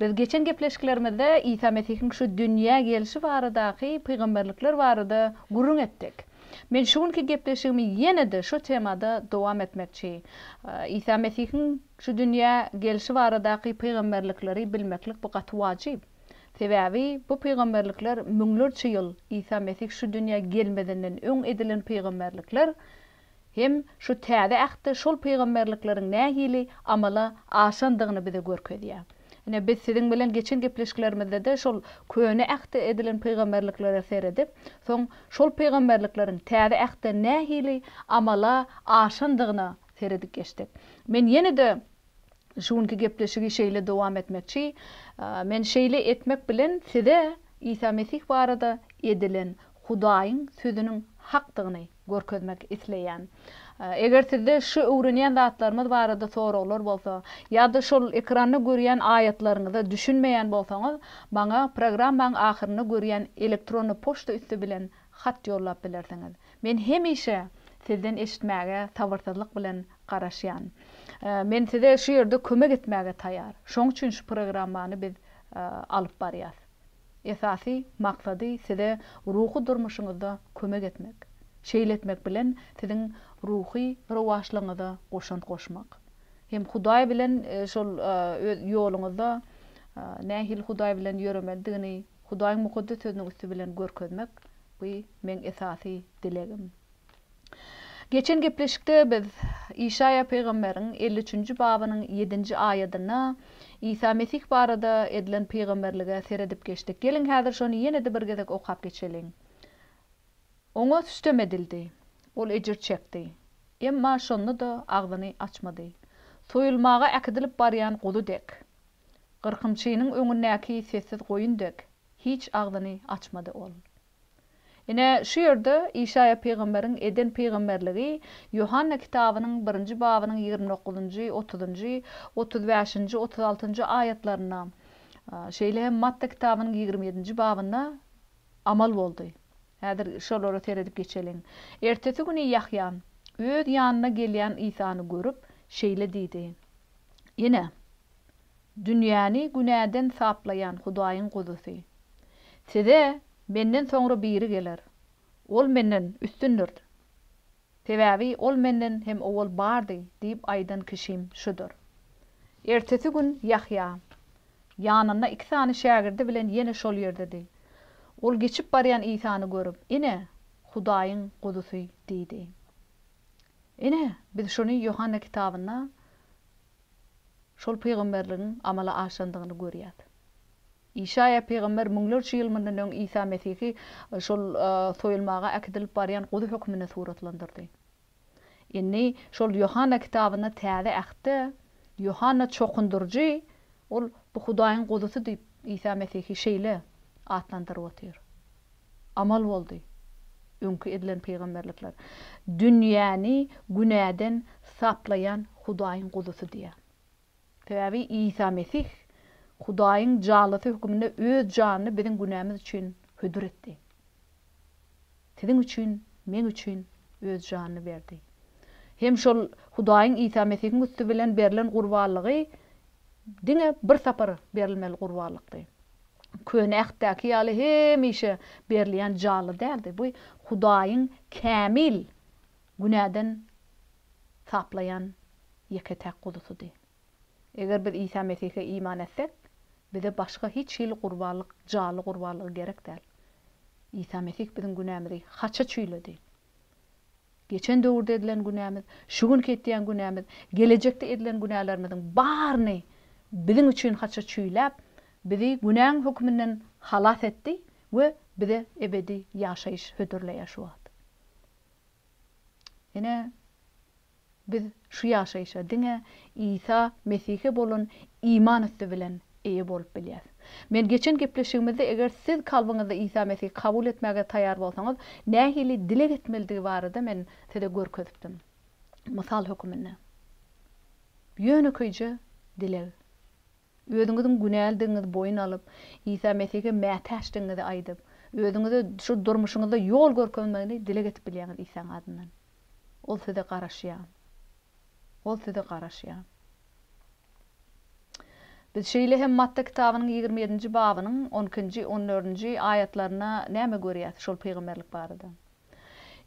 Biz geçen gepleşiklerimizde Isa Mesihiň şu dünýä gelşi baradaky pygamberlikler barada gürrüň etdik. Men şu günki gepleşigimi ýene-de şu temada dowam etmekçi. Isa Mesihiň şu dünýä gelşi baradaky pygamberlikleri bilmeklik bu gaty wajyp. Sebäbi bu pygamberlikler müňlerçe ýyl Isa Mesih şu dünýä gelmezinden öň edilen pygamberlikler, Hem şu Täze Ähtde şol pygamberlikleriň nähili amala aşandygyny bize görkezýär. Ine, biz siziň bilen geçen gepleşiklerimizde-de şol Köne Ähtde edilen pygamberliklere seredip, soň şol pygamberlikleriň Täze Ähtde nähili amala aşandygyna seredip geçdik. Men ýene-de Şu günki gepleşigi şeýle dowam etmekçi. Men şeýle etmek bilen size Isa Mesih barada edilen Hudaýyň sözüniň hakdygyny görkezmek isleýän. Eger sizde şu öwrenýän zatlarymyz barada soraglar bolsa, ýa-da şol ekranda görýän aýatlaryňyza düşünmeýän bolsaňyz, maňa programmaň ahyrynda görýän elektronny poçta üsti bilen hat ýollap bilersiňiz. Men hemişe sizden eşitmäge sabyrsyzlyk bilen garaşýan. Men size şu ýerde kömek etmäge taýýar. Şoň üçin şu programmany biz alyp barýas. Esasy maksady size ruhy durmuşyňyzda kömek etmek. Şeýle etmek bilen siziň ruhy rowaçlygyňyza goşant goşmak. Hem Hudaý bilen şol öz ýoluňyzda nähili Hudaý bilen ýöremelidigini Hudaýyň Mukaddes Sözüniň üsti bilen görkezmek. Bu meň esasy dilegim. Geçen gepleşikde biz Işaýa pygamberiň elli üçünji babynyň ýedinji aýadynda Isa Mesih barada edilen pygamberlige seredip geçdik. Geliň häzir şony ýene-de bir gezek okap geçeliň. Oňa sütem edildi. Ol ejir çekdi. Emma şonda-da agzyny açmady. Soýulmaga äkidilip barýan guzy dek. Gyrkymçynyň öňündäki sessiz goýun dek. Hiç agzyny açmady ol. Ine, şu ýerde Işaýa pygamberiň eden pygamberligi Ýohanna kitabynyň birinji babynyň ýigrimi dokuzynjy, otuzynjy, otuz bäşinji, otuz altynjy aýatlarynda, şeýle hem Matta kitabynyň ýigrimi ýedinji babynda amal boldy. Häzir şolara seredip geçeliň. Ertesi güni Ýahýa öz ýanyna gelýän Isany görüp, şeýle diýdi, Ine! Dünýäni günäden saplaýan Hudaýyň Guzusy. Size Menden soňra biri geler. Ol Menden üstündir. Sebäbi Ol Menden hem owal bardy diýip aýdan kişim şudur. Ertesi gün Ýahýa ýanynda iki sany şägirdi bilen ýene şol ýerdedi. Ol geçip barýan Isany görüp, Ine, Hudaýyň Guzusy! diýdi. Ine, biz şuny Ýohanna kitabynda şol pygamberligiň amala aşandygyny görýäs. Işaýa pygamber müňlerçe ýyl mundan öň Isa Mesihi şol soýulmaga äkidilip barýan guzy hökmünde suratlandyrdy. Indi şol Ýohanna kitabynda Täze Ähtde Ýohanna çokundyryjy ol bu Hudaýyň guzysy diýip Isa Mesihi şeýle atlandyryp otyr. amal boldy, öňki edilen pygamberlikler, dünýäni günäden saplaýan Hudaýyň guzusy diýýär. Sebäbi Isa Mesih Hudaýyň jallysy höküminde öz janyny biziň günämiz üçin hödür etdi. Siziň üçin, meň üçin öz janyny berdi. Hem şol Hudaýyň Isa Mesihiň üsti bilen berlen gurbanlygy Diňe bir sapar berilmeli gurbanlykdy. Köne Ähtdäki ýaly hemişe berilýän jally däldi. Bu Hudaýyň kämil günäden saplaýan ýeke-täk guzusydy. Eger biz Isa Mesihe iman etsek, bize başga hiç hili gurbanlyk, jally gurbanlygy gerek däl. Isa Mesih biziň günämizi haça çüýledi. Geçen döwürde edilen günämiz, şu günki etýän günämiz, gelejekde edilen günälerimiziň baryny biziň üçin haça çüýläp, bizi günäň höküminden halas etdi we bize ebedi ýaşaýyş hödürleýär şu wagt. Ine, Biz şu ýaşaýşa diňe Isa Mesihe bolan iman üsti bilen eýe bolup bilýäs. Men geçen gepleşigimizde eger siz kalbyňyzda Isa Mesihi kabul etmäge taýýar bolsaňyz, nähili dileg etmelidigi barada men size görkezipdim. Mysal höküminde. Ýönekeýje dileg. Özüňiziň günälidigiňizi boýun alyp, Isa Mesihe mätäçdigiňizi aýdyp, özüňize şu durmuşyňyzda ýol görkezmegini dileg edip bilýäňiz Isaň adyndan. Ol size garaşýar. Ol size garaşýar. Biz şeýle hem Matta kitabynyň ýigrimi ýedinji babynyň on ikinji, on dördünji aýatlarynda näme görýäs şol pygamberlik barada?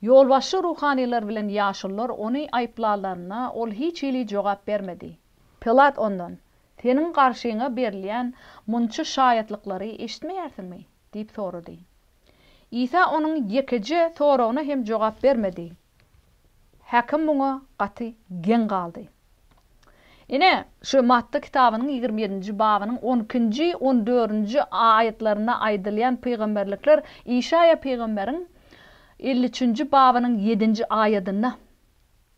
Ýolbaşçy ruhanylar bilen ýaşulular ony aýyplanlarynda, ol hiç hili jogap bermedi. Pilat ondan, Seniň garşyňa berilýän munça şaýatlyklary eşitmeýärsiňmi? diýip sorady. Isa onuň ýekeje soragyna hem jogap bermedi. Häkim muňa gaty geň galdy. Ine, şu Matta kitabynyň ýigrimi ýedinji babynyň on ikinji, on dördünji aýatlarynda aýdylýan pygamberlikler Işaýa pygamberiň elli üçünji babynyň ýedinji aýadynda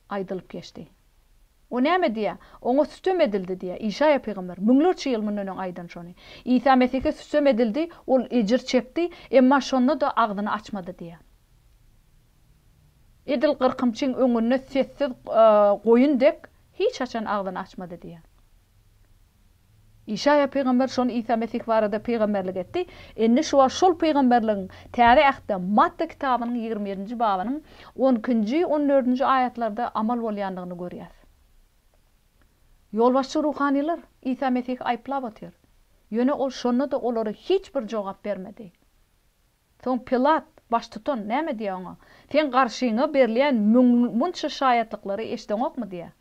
aýdylyp geçdi. O näme diýýär? Oňa sütem edildi diýýär. Işaýa pygamber müňlerçe ýyl mundan öň aýdan şony. Isa Mesihe sütem edildi, ol ejir çekdi, emma şonda-da agzyny açmady diýýär. Edil gyrkymçyň öňünde sessiz goýun dek hiç haçan agzyny açmady diýýär. Işaýa pygamber şony Isa Mesih barada pygamberlik etdi. Indi şu wagt şol pygamberligiň Täze Ähtde Matta kitabynyň ýigrimi ýedinji babynyň on ikinji, on dördünji aýatlarda amal bolýandygyny görýäs. Ýolbaşçy ruhanylar Isa Mesihi aýyplap otyr. Ýöne Ol şonda-da olara hiç bir jogap bermedi. Soň Pilat, baştutan, näme diýýär Oňa? Seň garşyňa berilýän müň, munça şaýatlyklary eşdeňokmy? diýýär.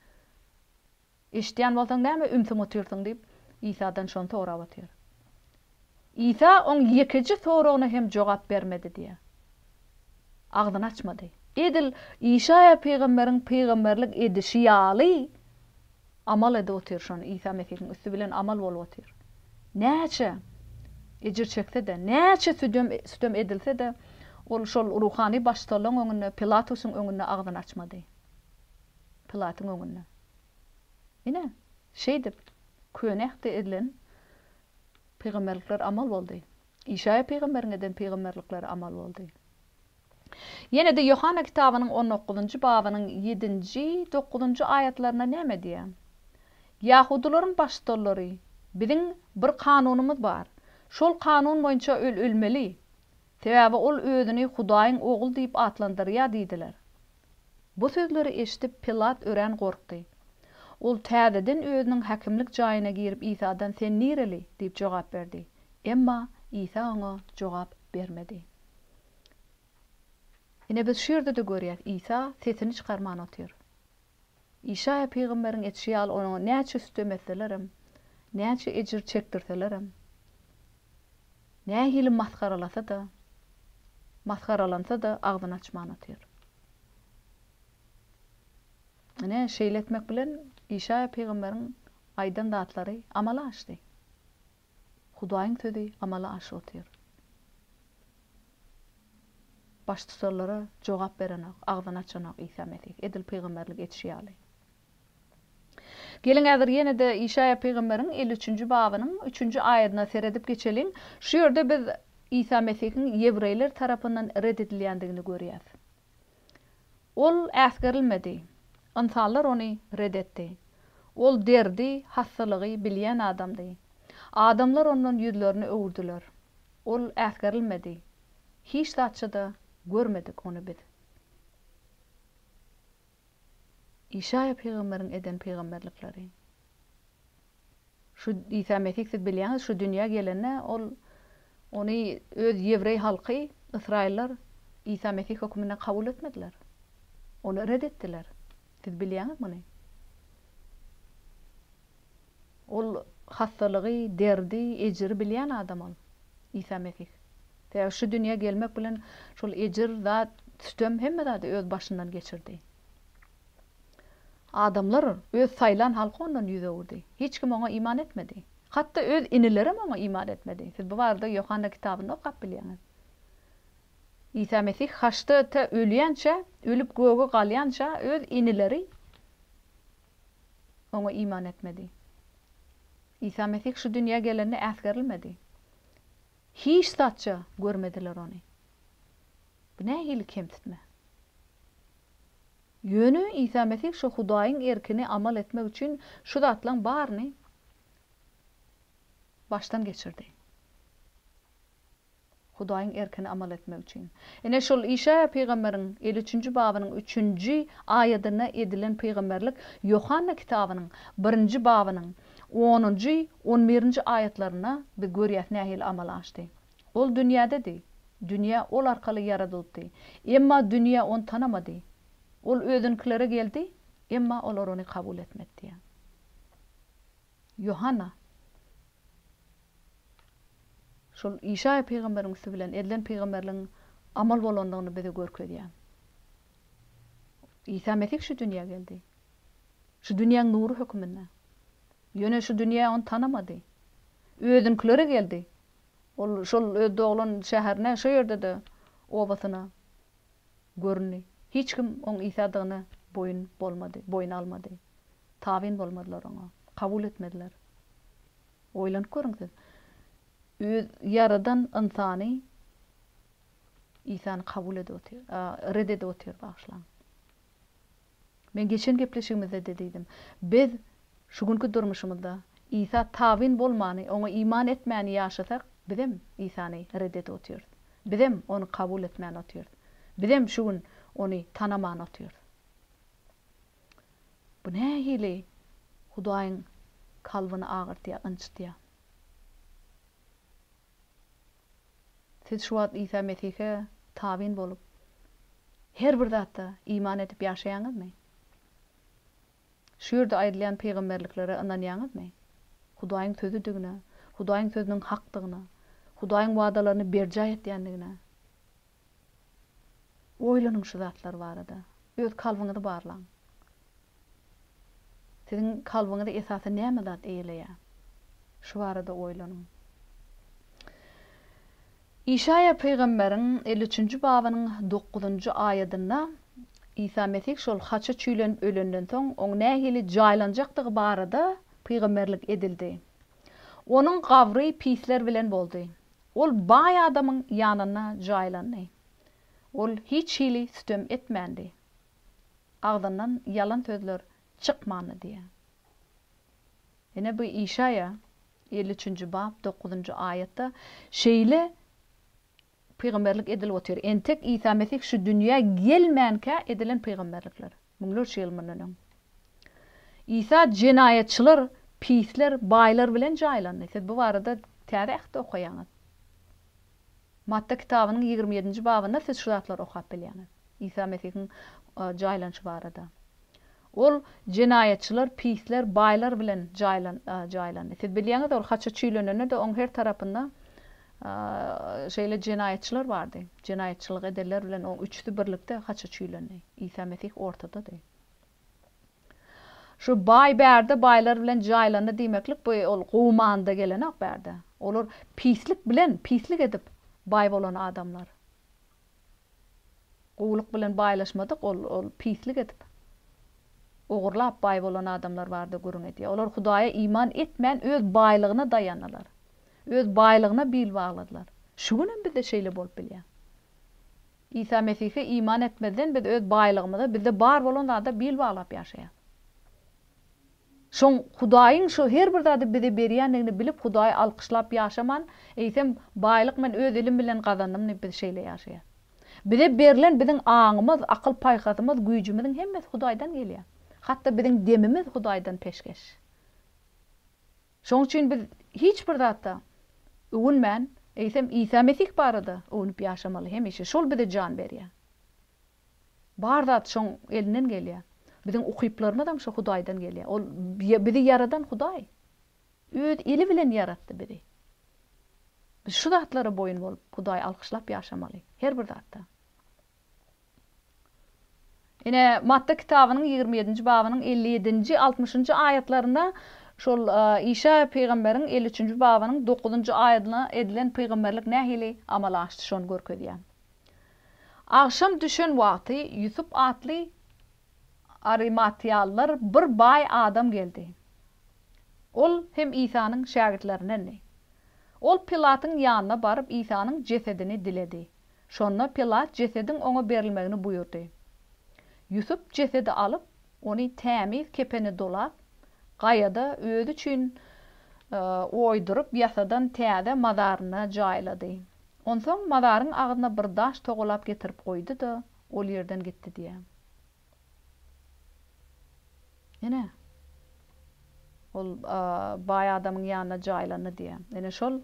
Eşidýän bolsaň, näme ümsüm otyrsyň? diýip, Isadan şony sorap otyr. Isa oň ýekeje soragyna hem jogap bermedi diýýär. Agzyny açmady. Edil Işaýa pygamberiň pygamberlik edişi ýaly amal edip otyr şony Isa Mesihiň üsti bilen amal bolup otyr. Näçe ejir çekse-de, näçe südem sütem edilse-de, ol şol ruhany baştutanlaryň öňünde, Pilatusyň öňünde agzyny açmady. Pilatyň öňünde. Ine, şeýdip, Köne Ähtde edilen pygamberlikler amal boldy. Işaýa pygamberiň eden pygamberlikleri amal boldy. Ýene-de Ýohanna kitabynyň on dokuzynjy babynyň ýedinji, dokuzynjy aýatlarynda näme diýýär? Ýahudylaryň baştutanlary, Biziň bir kanunymyz bar. Şol kanun boýunça öl ölmeli. Sebäbi ol özüni Hudaýyň Ogly diýip atlandyrýar diýdiler. Bu sözleri eşidip, Pilat örän gorkdy. Ol täzeden özüniň häkimlik jaýyna girip Isadan Sen nireli? diýip jogap berdi. Emma Isa oňa jogap bermedi. Ine biz şu ýerde-de görýäs, Isa sesini çykarman otyr. Işaýa pygamberiň etişi ýaly oňa näçe sütem etselerem, näçe ejir çekdirselerem, nähili masgaralasa-da, masgaralansa-da agzyny açman otyr. Ine, şeýle etmek bilen Işaýa pygamberiň aýdan zatlary amala aşdy. Hudaýyň sözi amala aşyp otyr. Baştutanlara jogap berenok, agzyny açanok Isa Mesih, edil pygamberlik edişi ýaly. Geliň häzir ýene-de Işaýa pygamberiň elli üçünji babynyň üçünji aýadyna seredip geçeliň. Şu ýerde biz Isa Mesihiň ýewreýler tarapyndan ret edilýändigini görýäs. Ol äsgerilmedi. Ynsanlar ony ret etdi. Ol derdi, hassalygy bilýän adamdy. Adamlar ondan ýüzlerini öwürdiler. Ol äsgerilmedi. Hiç zatça-da görmedik ony biz. Işaýa pygamberiň eden pygamberlikleri. Şu Isa Mesih siz bilýäňiz şu dünýä gelende ol ony öz ýewreý halky, ysraýyllar Isa Mesih hökmünde kabul etmediler. Ony ret etdiler. Siz bilýäňiz muny. Ol hassalygy, derdi, ejiri bilýän adam ol, Isa Mesih. Sebäbi şu dünýä gelmek bilen şol ejir, zat, sütem hemme zady öz başyndan geçirdi. Adamlar, öz saýlan halky ondan ýüz öwürdi. Hiç kim oňa iman etmedi. Hatda öz inilerem oňa iman etmedi. Siz bu barada Ýohanna kitabynda okap bilýäňiz. Isa Mesih haçda tä ölýänçä, ölüp göge galýança öz inileri Oňa iman etmedi. Isa Mesih şu dünýä gelende äsgerilmedi. Hiç zatça görmediler ony. Bu nähili kemsitme! Ýöne Isa Mesih şu Hudaýyň erkini amal etmek üçin şu zatlaryň baryny başdan geçirdi. Hudaýyň erkine amal etmek üçin. Ine, şol Işaýa pygamberiň elli üçünji babynyň üçünji aýadynda edilen pygamberlik Ýohanna kitabynyň birinji babynyň onunjy, on birinji aýatlarynda biz görýäs nähili amal aşdy. Ol dünýädedi. Dünýä ol arkaly ýaradylypdy. Emma dünýä ony tanamady. Ol özünikilere geldi, emma olar ony kabul etmedi diýýär. Ýohanna şol Işaýa pygamberiň üsti bilen edilen pygamberligiň amal bolandygyny bize görkezýär. Isa Mesih şu dünýä geldi. Şu dünýäň nury höküminde. Ýöne şu dünýä ony tanamady. Özünikileri geldi. Ol şol öz doglan şäherine, şo ýerde-de obasyna göründi. Hiç kim oň Isadygyna boýun bolmady, boýun almady. Tabyn bolmadylar oňa. Kabul etmediler. Oýlanyp görüň siz. Öz ýaradan ynsany Isany kabul edip otyr, red edip otyr, bagyşlaň. Men geçen gepleşigimizde-de diýdim. Biz şu günki durmuşymyzda Isa tabyn bolmany, oňa iman etmäni ýaşasak, bizem Isany ret edip otyrys. Bizem ony kabul etmän otyrys. Bizem şu gün ony tanaman otyrys. Bu nähili Hudaýyň kalbyny agyrtýar, ynjytýar. Siz şu wagt Isa Mesihe tabyn bolup, her bir zata iman edip ýaşaýaňyzmy? Şu ýerde aýdylýan pygamberliklere ynanýaňyzmy? Hudaýyň Sözüdigine, Hudaýyň Sözüniň hakdygyna, Hudaýyň wadalaryny berjaý etýändigine Oýlanyň şu zatlar barada. Öz kalbyňyzy barlaň. Siziň kalbyňyzy esasy näme zat eýeleýär? Şu barada oýlanyň. Işaýa pygamberiň elli üçünji babynyň dokuzynjy aýadynda Isa Mesih şol haça çüýlenip ölenden soň, oň nähili jaýlanjakdygy barada pygamberlik edildi. Onuň gabry pisler bilen boldy. Ol baý adamyň ýanyna jaýlandy. Ol hiç hili sütem etmändi. Agzyndan ýalan sözler çykmandy diýýär. Ine bu Işaýa elli üçünji bap dokuzynjy aýatda şeýle pygamberlik edilip otyr. Entek Isa Mesih şu dünýä gelmänkä edilen pygamberlikler. Müňlerçe ýyl mundan öň. Isa jenaýatçylar, pisler, baýlar bilen jaýlandy. Siz bu barada Täze Ähtde okaýaňyz. Matta kitabynyň ýigrimi ýedinji babynda siz şu zatlary okap bilýäňiz. Isa Mesihiň jaýlanyşy barada. Ol jenaýatçylar, pisler, baýlar bilen jaýlandy. Siz bilýäňiz, ol haça çüýlenende-de oň her tarapynda Şeýle jenaýatçylar bardy. Jenaýatçylyk edenler bilen oň üçüsi birlikde haça çüýlendi. Isa Mesih ortadady. Şu baý bärde baýlar bilen jaýlandy diýmeklik bu ol gowmanda gelenok bärde. Olar pislik bilen pislik edip baý bolan adamlar. Gowulyk bilen baýlaşmadyk ol ol pislik edip ogurlap baý bolan adamlar barada gürrüň edýär. Olar Hudaýa iman etmän öz baýlygyna daýandylar. Öz baýlygyna bil bagladylar. Şu günem bizde şeýle bolup bilýär. Isa Mesihe iman etmezden biz öz baýlygymyza bizde bar bolan zada bil baglap ýaşaýas. Şoň Hudaýyň şu her bir zady bize berýändigini bilip Hudaýy alkyşlap ýaşaman, eýsem baýlyk men öz elim bilen gazandym diýip biz şeýle ýaşaýas. Bize berlen biziň aňymyz, akyl-paýhasymyz, güýjümiziň hemmesi Hudaýdan gelýär. Hatda biziň demimiz Hudaýdan peşgeş. Şoň üçin biz hiç bir zatda öwünmän, eýsem Isa Mesih barada öwnüp ýaşamaly hemişe. Şol bize jan berýär. Bar zat şoň elinden gelýä. Biziň ukyplarymyzam şo Hudaýdan gelýä. Ol bizi ýaradan Hudaý. Öz eli bilen ýaratdy bizi. Biz şu zatlara boýun bolup, Hudaýy alkyşlap ýaşamaly. Her bir zatda. Ine, Matta kitabynyň ýigrimi ýedinji babynyň elli ýedinji, altmyşynjy aýatlarynda şol Işaýa pygamberiň elli üçünji babynyň dokuzynjy aýadynda edilen pygamberlik nähili amala aşdy, şony görkezýär. Agşam düşen wagty Ýusup atly arimatýalylar bir baý adam geldi. Ol hem Isanyň şägirtlerindendi. Ol Pilatyň ýanyna baryp Isanyň jesedini diledi. Şonda Pilat jesediň oňa berilmegini buýurdy. Ýusup jesedi alyp, Ony tämiz kepene dolap, gaýada özi üçin oýduryp ýasadan täze mazaryna jaýlady. Onsoň mazaryň agzyna bir daş togalap getirip goýdy-da, ol ýerden gitdi diýýär. Ine, ol baý adamyň ýanyna jaýlandy diýýär. Ine, şol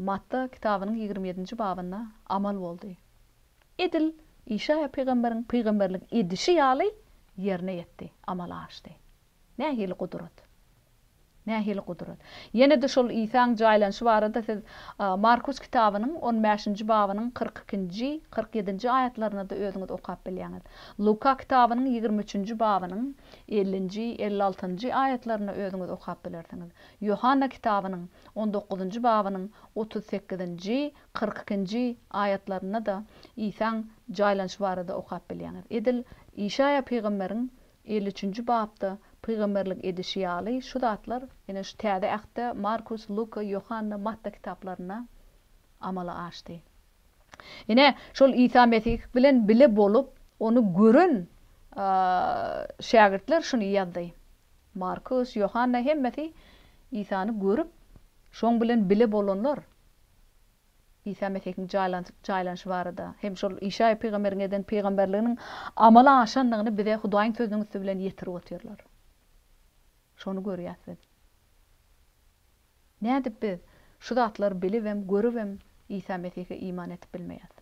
Matta kitabynyň ýigrimi ýedinji babynda amal boldy. Edil Işaýa pygamberiň pygamberlik edişi ýaly ýerine ýetdi, amala aşdy. Nähili gudrat! Nähili gudrat! Ýene-de şol Isaň jaýlanyşy barada siz Markus kitabynyň on bäşinji babynyň kyrk ikinji, kyrk ýedinji aýatlaryna-da özüňiz okap bilýäňiz. Luka kitabynyň ýigrimi üçünji babynyň ellinji, elli altynjy aýatlaryna özüňiz okap bilersiňiz. Ýohanna kitabynyň on dokuzynjy babynyň otuz sekizinji, Kyrk ikinji aýatlarynda-da Isaň jaýlanyşy barada okap bilýäňiz. Edil Işaýa pygamberiň elli üçünji bapda pygamberlik edişi ýaly şu zatlar ýene şu Täze Ähtde Markus, Luka, Ýohanna, Matta kitaplarynda amala aşdy. Ine, şol Isa Mesih bilen bile bolup, ony gören şägirtler şuny ýazdy. Markus, Ýohanna hemmesi Isany görüp, şoň bilen bile bolanlar. Isa Mesihiň jaýlanyşy barada hem şol Işaýa pygamberiň eden pygamberliginiň amala aşandygyny bize Hudaýyň Sözüniň üsti bilen ýetirip otyrlar. Şony görýäs biz. Nädip biz şu zatlary bilibem, görübem Isa Mesihe iman edip bilmeýäs?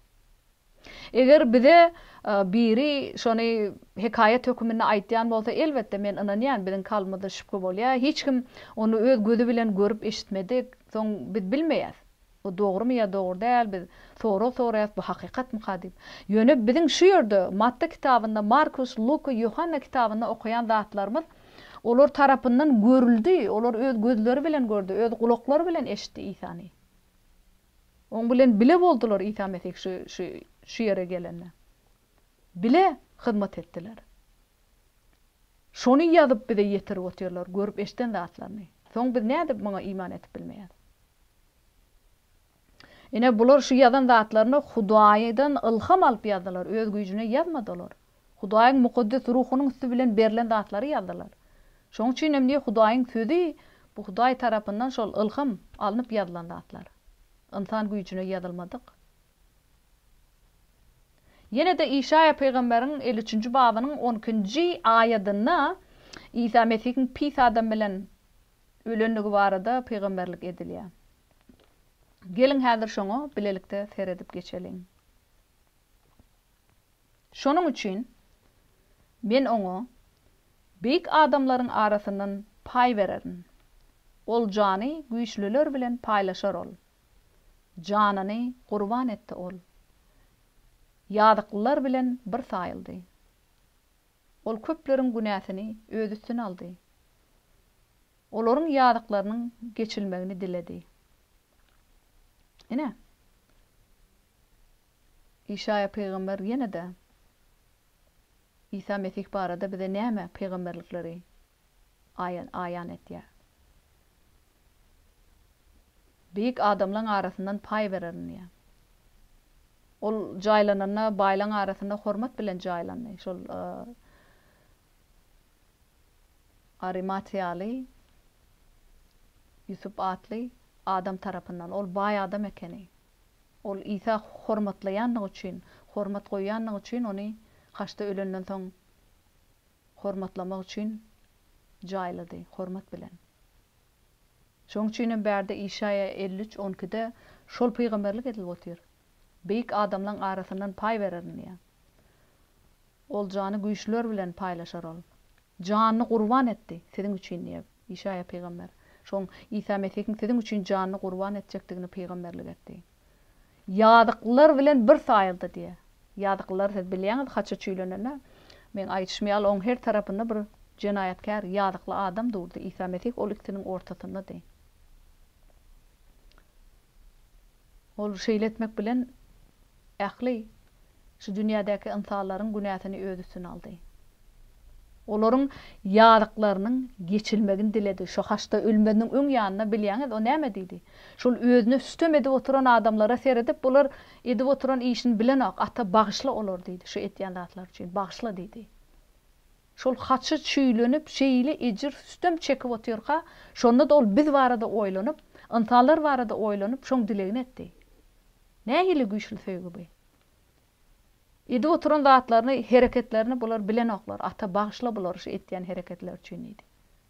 Eger bize biri şony hekaýat höküminde aýtýan bolsa, elbetde, men ynanýan, biziň kalbymyzda şübhe bolýar, hiç kim ony öz gözi bilen görüp eşitmedik, soň biz bilmeýäs, bu dogrumy ýa dogry däl, biz sorag soraýas, bu hakykatmyka diýip. Ýöne biziň şu ýerde Matta kitabynda, Markus, Luka, Ýohanna kitabynda okaýan zatlarymyz olar tarapyndan görüldi, olar öz gözleri bilen gördi, öz gulaklary bilen eşitdi Isany. Oň bilen bile boldular Isa Mesih şu şu şu ýere gelende. Bile hyzmat etdiler. Şony ýazyp bize ýetirip otyrlar görüp eşden zatlaryny. Soň biz nädip muňa iman etip bilmeýäs. Ine bular şu ýazan zatlaryny Hudaýdan ylham alyp ýazdylar öz güýjüne ýazmady olar. Hudaýyň mukaddes ruhunyň üsti bilen berlen zatlary ýazdylar. Şonuň üçin hem diýip Hudaýyň sözi bu Hudaý tarapyndan şol ylham alnyp ýazylan zatlar. Ynsan güýjüne ýazylmadyk. Ýene-de Işaýa pygamberiň elli üçünji babynyň on ikinji aýadynda Isa Mesihiň pis adam bilen ölendigi barada pygamberlik edilýär. Geliň häzir şoňa bilelikde seredip geçeliň. Şonuň üçin Men oňa beýik adamlaryň arasyndan paý bererin. Oljany güýçlüler bilen paýlaşar ol. Janyny gurban etdi ol. Ýazyklylar bilen bir saýyldy. Ol köpleriň günäsini öz üstüne aldy. Olaryň ýazyklarynyň geçilmegini diledi. Ine. Işaýa pygamber ýene-de Isa Mesih barada bize näme pygamberlikleri aýan etýär? Beýik adamlaň arasyndan paý bererin diýýär. Ol jaýlananda baýlaň arasynda hormat bilen jaýlandy. Şol Arimatiýaly Ýusup atly adam tarapyndan. Ol baý adam ekeni. Ol Isa hormatlaýandygy üçin, hormat goýýandygy üçin ony haçda ölenden soň hormatlamak üçin jaýlady, hormat bilen. Şonuň üçin hem bärde Işaýa elli üç, on ikide şol pygamberlik edilip otyr. Beýik adamlaň arasyndan paý bererin diýýär. Oljany güýçlüler bilen paýlaşar ol. Janyny gurban etdi, siziň üçin diýip, Işaýa pygamber. Şoň Isa Mesihiň siziň üçin janyny gurban etjekdigini pygamberlik etdi. Ýazyklylar bilen bir saýyldy diýe. Ýazyklylary siz bilýäňiz, haça çüýlenende, men aýdyşym ýaly, oň her tarapynda bir jenaýatkär, ýazykly adam durdy. Isa Mesih ol ikisiniň ortasyndady. Ol şeýle etmek bilen ähli Şu dünýädäki ynsanlaryň günäsini Öz üstüne aldy. Olaryň ýazyklarynyň geçilmegini diledi. Şu haçda ölmeziniň öň ýanynda, bilýäňiz, O näme diýdi? Şol Özüne sütem edip oturan adamlara seredip, Bular edip oturan işini bilenok. Ata, bagyşla olary diýdi. Şu etýän zatlary üçin bagyşla diýdi. Şol haçy çüýlenip, şeýle ejir, sütem çekip otyrka, şonda-da ol biz barada oýlanyp, ynsanlar barada oýlanyp, şoň dilegini etdi. Nähili güýçli söýgi bu! Edip oturan zatlaryny, hereketlerini bular bilenoklar. Ata, bagyşla bulary şu etýän hereketleri üçin diýdi.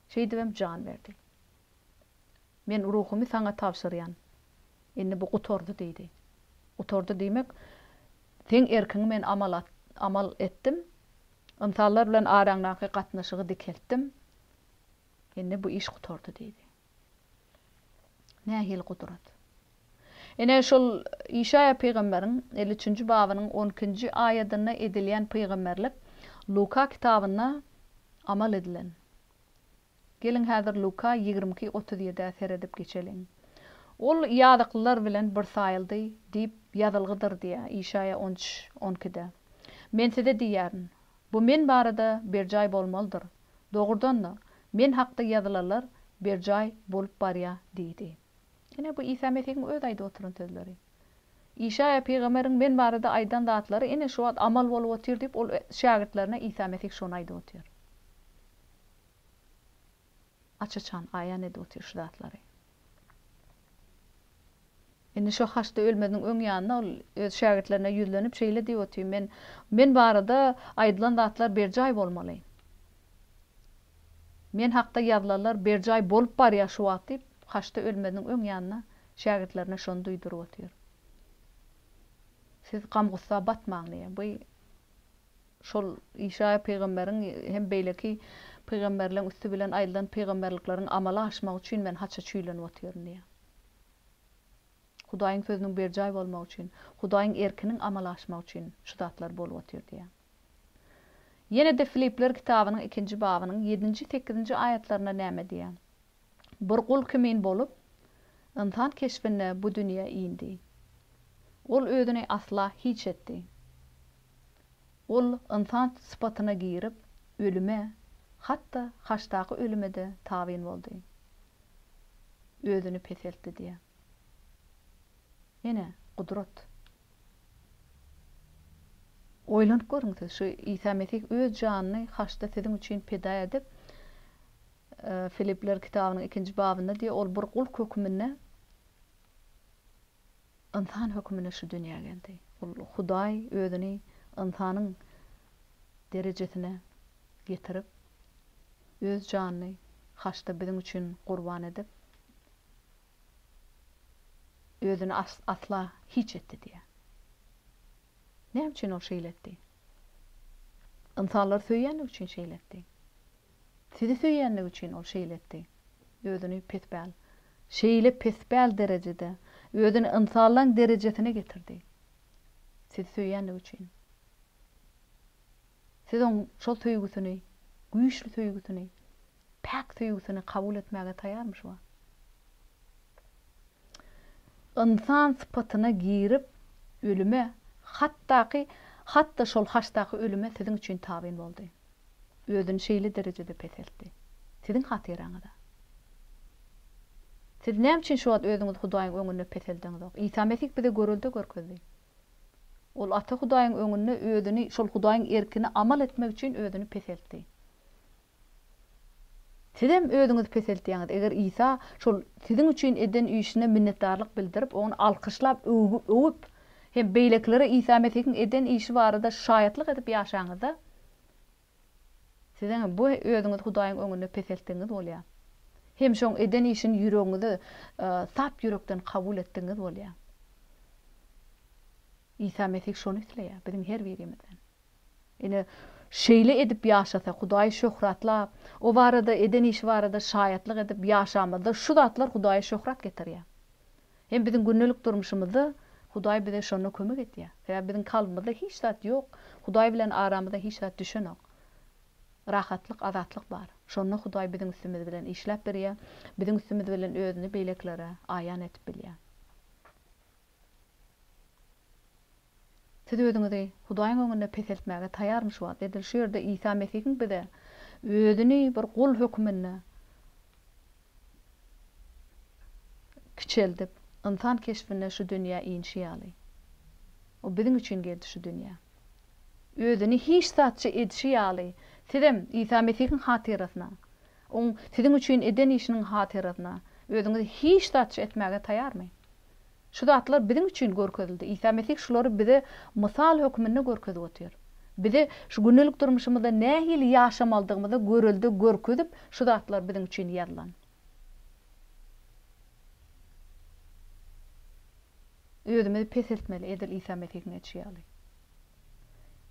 Şeýdibem jan berdi. Men ruhumy saňa tabşyrýan. Indi bu gutardy diýdi. Gutardy diýmek, seň erkiňi men amal amal etdim. Ynsanlar bilen araňdaky gatnaşygy dikeltdim. Indi bu iş gutardy diýdi. Nähili gudrat? Ine, şol Işaýa pygamberiň elli üçünji babynyň on ikinji aýadynda edilýän pygamberlik Luka kitabynda amal edilen. Geliň, häzir Luka ýigrimi iki, otuz ýedi-ä seredip geçeliň. Ol ýazyklylar bilen bir saýyldy diýip ýazylgydyr diýýär Işaýa on üç, on ikide. Men size diýýärin, Bu men barada berjaý bolmalydyr. Dogrudan-da, men hakda ýazylanlar berjaý bolup barýar diýdi. Ine, bu Isa Mesihiň özi aýdyp oturan sözleri. Işaýa pygamberiň men barada aýdan zatlary ine şu wagt amal bolup otyr diýip, ol şägirtlerine Isa Mesih şony aýdyp otyr. aç-açan aýan edip otyr şu zatlary. Indi şo haçda ölmeziniň öň ýanynda ol öz şägirtlerine ýüzlenip şeýle diýip otyr, Men, men barada aýdylan zatlar berjaý bolmaly. Men hakda ýazylanlar berjaý bolup barýar şu wagt diýip, haçda ölmeziniň öň ýanynda şägirtlerine şony duýduryp otyr. Siz gam-gussa batmaň diýýär. Bu Şol Işaýa pygamberiň hem beýleki pygamberleň üsti bilen aýdylan pygamberlikleriň amala aşmagy üçin men haça çüýlenip otyryn diýýär. Hudaýyň sözüniň berjaý bolmagy üçin, Hudaýyň erkiniň amala aşmagy üçin şu zatlar bolup otyr diýýär. Ýene-de Filipler kitabynyň ikinji babynyň ýedinji, sekizinji aýatlarynda näme diýýär? Bir gul kimin bolup, ynsan keşbinde bu dünýä indi. Ol özüni asla hiç etdi. Ol ynsan sypatyna girip, ölüme, hat-da haçdaky ölüme-de tabyn boldy. Özüni peseltdi diýýär. Ene, gudrat. Oýlanyp görüň siz, şu Isa Mesih öz janyny haçda siziň üçin pida edip, Filipliler kitabynyň ikinji babynda diýýär, ol bir gul höküminde, Ynsan hökümine şu dünýä geldi. Ol Hudaý özüni ynsanyň derejesine getirip, öz janyny haçda biziň üçin gurban edip, özüni asla hiç etdi diýýär. Näme üçin ol şeýle etdi? Ynsanlary söýýänligi üçin şeýle etdi. Sizi söýýänligi üçin ol şeýle etdi. Özüni pespäl, şeýle pespäl derejede, özüni ynsanlaň derejesine getirdi. Sizi söýýänligi üçin. Siz oň şol söýgüsini, güýçli söýgüsini, päk söýgüsini kabul etmäge taýýarmyşba? Ynsan sypatyna girip, ölüme, hatdaky, hat-da şol haçdaky ölüme siziň üçin tabyn boldy. özüni şeýle derejede peseltdi. Siziň hatyraňyza. Siz näme üçin şu wagt özüňizi Hudaýyň öňünde peseldeňizok? Isa Mesih bize görelde görkezdi. Ol Ata Hudaýyň öňünde özüni, şol Hudaýyň erkine amal etmek üçin özüni peseltdi. Sizem özüňizi peseltýäňiz. Eger Isa şol siziň üçin eden işine minnetdarlyk bildirip, ony alkyşlap, öwüp, hem beýlekilere Isa Mesihiň eden işi barada şaýatlyk edip ýaşaňyzda, siziň bu özüňizi Hudaýyň öňünde peseltdigiňiz bolýar. Hem şoň eden işini ýüregiňize sap ýürekden kabul etdigiňiz bolýar. Isa Mesih şony isleýär biziň her birimizden. Ine, şeýle edip ýaşasak, Hudaýy şöhratlap, O barada, eden işi barada şaýatlyk edip ýaşamyzda şu zatlar Hudaýa şöhrat getirýär. Hem biziň gündelik durmuşymyzda Hudaý bize şonda kömek etýär. Sebäbi biziň kalbymyzda hiç zat ýok, Hudaý bilen aramyza hiç zat düşenok. Rahatlyk, azatlyk bar. Şonda Hudaý biziň üstümiz bilen işläp berýär, biziň üstümiz bilen özüni beýlekilere aýan edip bilýär. Siz özüňizi Hudaýyň öňünde peseltmäge taýarmy şu wagt? Edil şu ýerde Isa Mesihiň bize özüni bir gul höküminde kiçeldip, ynsan keşbinde şu dünýä inişi ýaly. O biziň üçin geldi şu dünýä. Özüni hiç zatçy edişi ýaly, sizem Isa Mesihiň hatyrasyna, Oň siziň üçin eden işiniň hatyrasyna özüňizi hiç zatçy etmäge taýarmy? Şu zatlar biziň üçin görkezildi. Isa Mesih şulary bize mysal hökmünde görkezip otyr. Bize şu gündelik durmuşymyzda nähili ýaşamalydygymyza görelde görkezip, şu zatlar biziň üçin ýazylan. Özümizi peseltmeli, edil Isa Mesihiň edişi ýaly.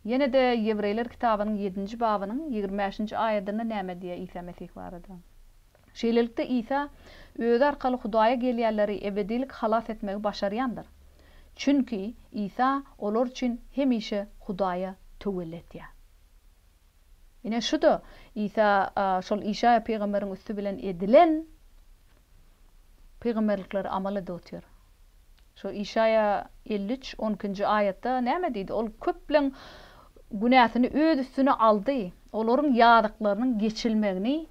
Ýene-de Ýewreýler kitabynyň ýedinji babynyň ýigrimi bäşinji aýadynda näme diýýär Isa Mesih barada? Şeýlelikde, Isa Özi arkaly Hudaýa gelýänleri ebedilik halas etmegi başarýandyr. Çünki Isa olar üçin hemişe Hudaýa töwelli etýär. Ine, şu-da Isa şol Işaýa pygamberiň üsti bilen edilen pygamberlikleri amal edip otyr. Şu Işaýa elli üç, on ikinji aýatda näme diýdi? Ol köpleň günäsini öz üstüne aldy. Olaryň ýazyklarynyň geçilmegini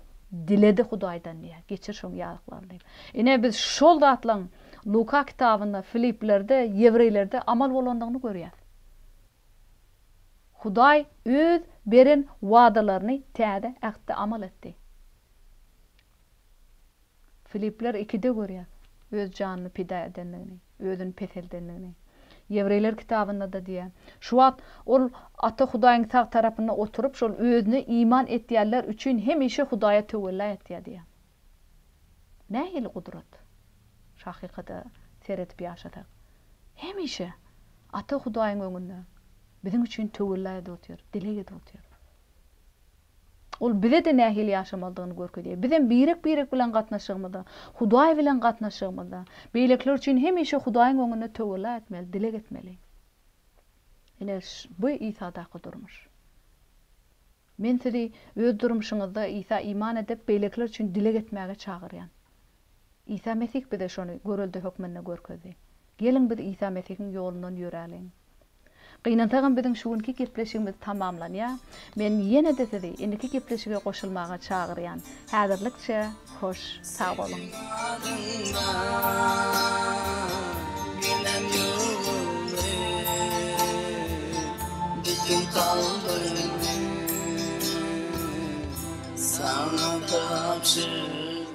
diledi Hudaýdan diýýär. Geçir şoň ýazyklaryny diýip. Ine biz şol zatlaryň Luka kitabynda, Filiplerde, Ýewreýlerde amal bolandygyny görýäs. Hudaý öz beren wadalaryny Täze Ähtde amal etdi. Filipler ikide görýär öz janyny pida edendigini, özüni peseldendigini. Ýewreýler kitabynda-da diýýär. Şu wagt ol Ata Hudaýyň sag tarapynda oturyp, şol özüne iman etýänler üçin hemişe Hudaýa töwella etýär diýýär. Nähili gudrat! Şu hakykata seredip ýaşasak. Hemişe Ata Hudaýyň öňünde biziň üçin töwella edip otyr, dileg edip otyr. Ol bize-de nähili ýaşamalydygyny görkezýär. Bizem birek-birek bilen gatnaşygymyzda, Hudaý bilen gatnaşygymyzda, beýlekiler üçin hemişe Hudaýyň öňünde töwella etmeli, dileg etmeli. Ine, bu Isadaky durmuş. Men sizi öz durmuşyňyzda Isa iman edip, beýlekiler üçin dileg etmäge çagyrýan. Isa Mesih bize şony görelde hökmünde görkezdi. Geliň biz Isa Mesihiň ýolundan ýöräliň. Gynansagam biziň şu günki gepleşigimiz tamamlanýar. Men ýene-de sizi indiki gepleşige goşulmaga çagyrýan. Häzirlikçe hoş sag boluň. Sana tapşyr.